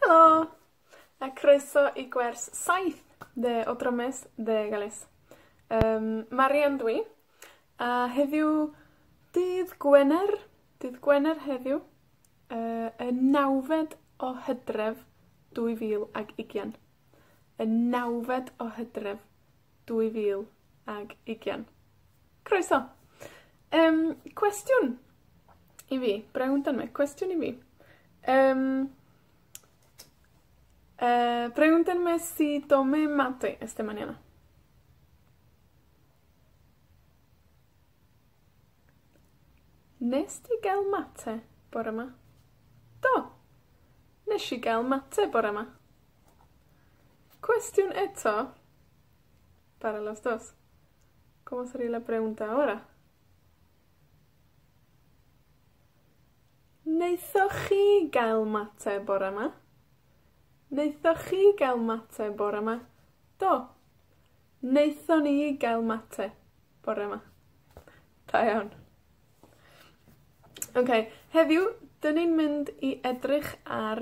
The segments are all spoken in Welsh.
Helo! A croeso i gwers saith dde o Drammes Dde Galles. Yym, Marian dw i, a heddiw, dydd Gwener, dydd Gwener heddiw, yy y nawfed o Hydref, dwy fil ag ugian. Y nawfed o Hydref. dwy fil ag ugian. Croeso! Yym, cwestiwn i fi, brew amdan 'wn, cwestiwn i fi. Yym, yy, brew amdan be' sy 'di o'm mad i ers dwi man 'yn. Wnest ti ga'l mate bore 'ma? Do. Nesh i ga'l mate bore 'ma. Cwestiwn eto Bara las dos. Como sería la pregunta ahora? Naethoch chi gael mate bore 'ma? Naethoch chi gael mate bore 'ma? Do. Naethon ni gael mate bore 'ma. Da iawn. Oce, heddiw, 'dyn ni'n mynd i edrych ar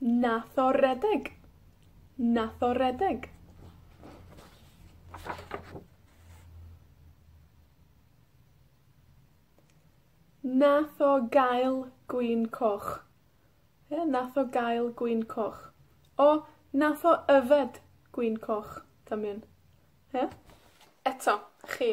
Nath o redeg. Nath o redeg. Nath o gael gwin coch. Ie, nath o gael gwin coch. O, nath o yfed gwin coch. Dynion. Ie? Eto, chi.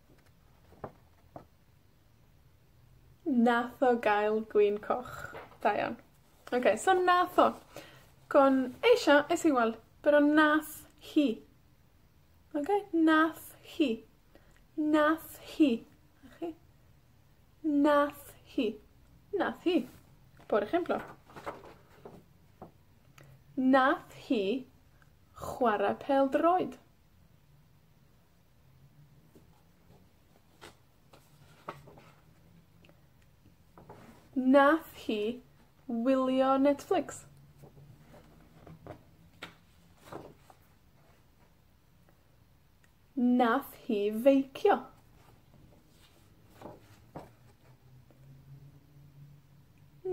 Nath o gael gwin coch. Da iawn. Oce, so nath o. Gwn eisiau, es i weld, pero nath hi. Oce? Nath hi. Nath hi. 'Na chi. Nath hi. Nath hi. Por ejemplo. Nath hi chwara pêl-droed. Nath hi wylio Netflix. Nath hi feicio.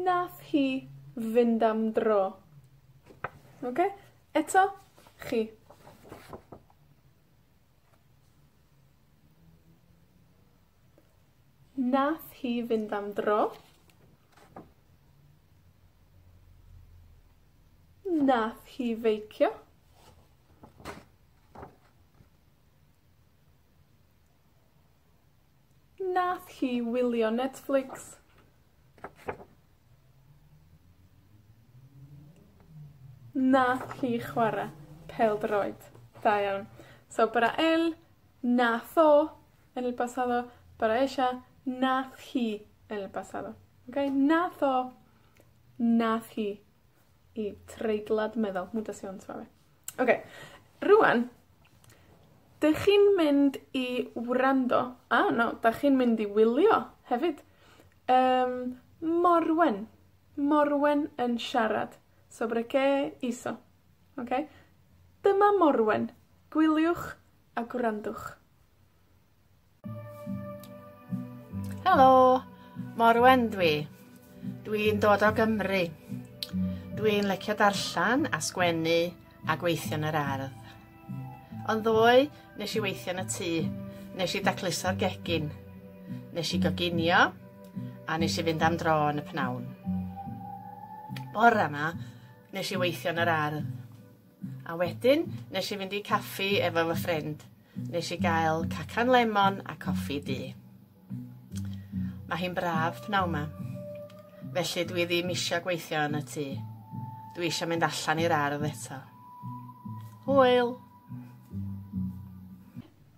Nath hi fynd am dro. Oce? Eto, chi. Nath hi fynd am dro. Nath hi feicio. Nath hi wylio Netflix. Nath hi chwara pêl-droed. Da iawn. So bara el, nath o, en el pasado, bara ella, nath hi, en el pasado. Oce? Nath o, nath hi, i treiglad meddal, mutación suave. Oce, rŵan, 'dych chi'n mynd i wrando, a, na, 'dach chi'n mynd i wylio, hefyd, yym, Morwen, Morwen yn siarad. Sobre qué hizo? Oce? Dyma Morwen. Gwyliwch a gwrandwch. Helo, Morwen dwi. Dwi'n dod o Gymru. Dwi'n lecio darllen a sgwennu a gweithio yn yr ardd. Ond ddoe, nes i weithio yn y tŷ, nes i dacluso'r gegin, nes i goginio a nes i fynd am dro yn y pnawn. Bore yma, nes i weithio yn yr ardd. A wedyn, nes i fynd i caffi efo fy ffrind. Nes i gael cacan lemon a coffi du. Mae hi'n braf pnawn yma. Felly dwi ddim eisiau gweithio yn y tŷ. Dwi eisiau mynd allan i'r ardd eto. Hwyl!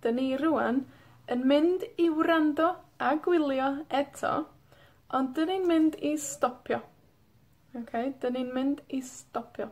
Dyn ni rŵan yn mynd i wrando a gwylio eto, ond 'dyn ni'n mynd i stopio. Oce? 'Dyn ni'n mynd i stopio.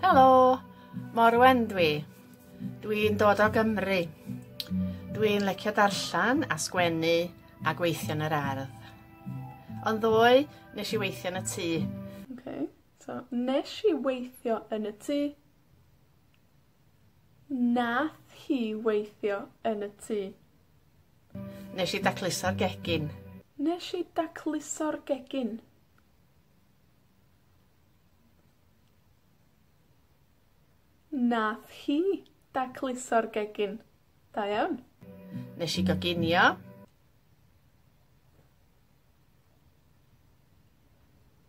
Helo, Morwen dwi. Dwi'n dod o Gymru. Dwi'n lecio darllen a sgwennu a gweithio yn yr ardd. Ond ddoe, nes i weithio yn y tŷ. Oce, so nesh i weithio yn y tŷ. Nath hi weithio yn y tŷ. Nesh i dacluso'r gegin. Nesh i dacluso'r gegin. Nath hi dacluso'r gegin. Da iawn. Nesh i goginio.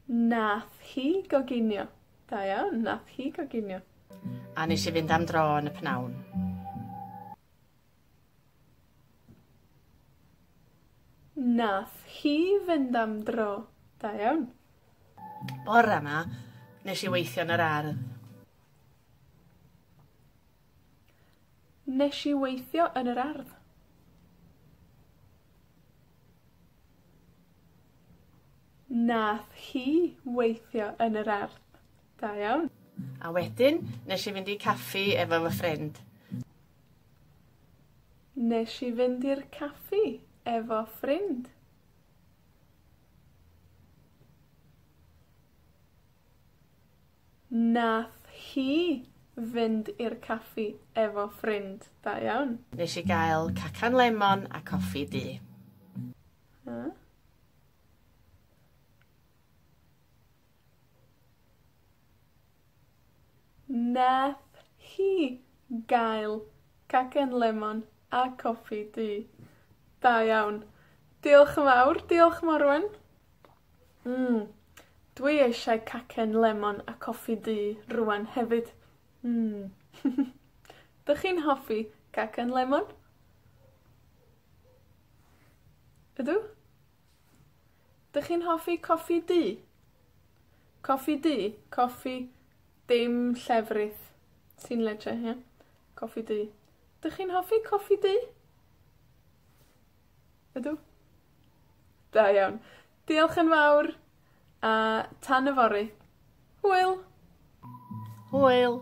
Nath hi goginio. Da iawn, nath hi goginio. A nesh i fynd am dro yn y pnawn. Nath hi fynd am dro. Da iawn. Bore 'ma nesh i weithio yn yr ardd. Nesh i weithio yn yr ardd. Nath hi weithio yn yr ardd. Da iawn. A wedyn nesh i fynd i caffi efo fy ffrind. Nesh i fynd i'r caffi efo ffrind. Nath hi fynd i'r caffi efo ffrind. Da iawn. Nesh i gael cacan lemon a coffi du. Hmm. Nath hi gael cacen lemon a coffi du. Da iawn. Diolch yn fawr, diolch Morwen. Hm, dwi eisiau cacen lemon a coffi du rŵan hefyd. Hm. 'Dych chi'n hoffi cacen lemon? Ydw. 'Dych chi'n hoffi coffi du? Coffi du, coffi dim llefrith, ti'n leisio, ie? Coffi du. 'Dych chi'n hoffi coffi du? Ydw. Da iawn. Diolch yn fawr, a tan yfory. Hwyl! Hwyl!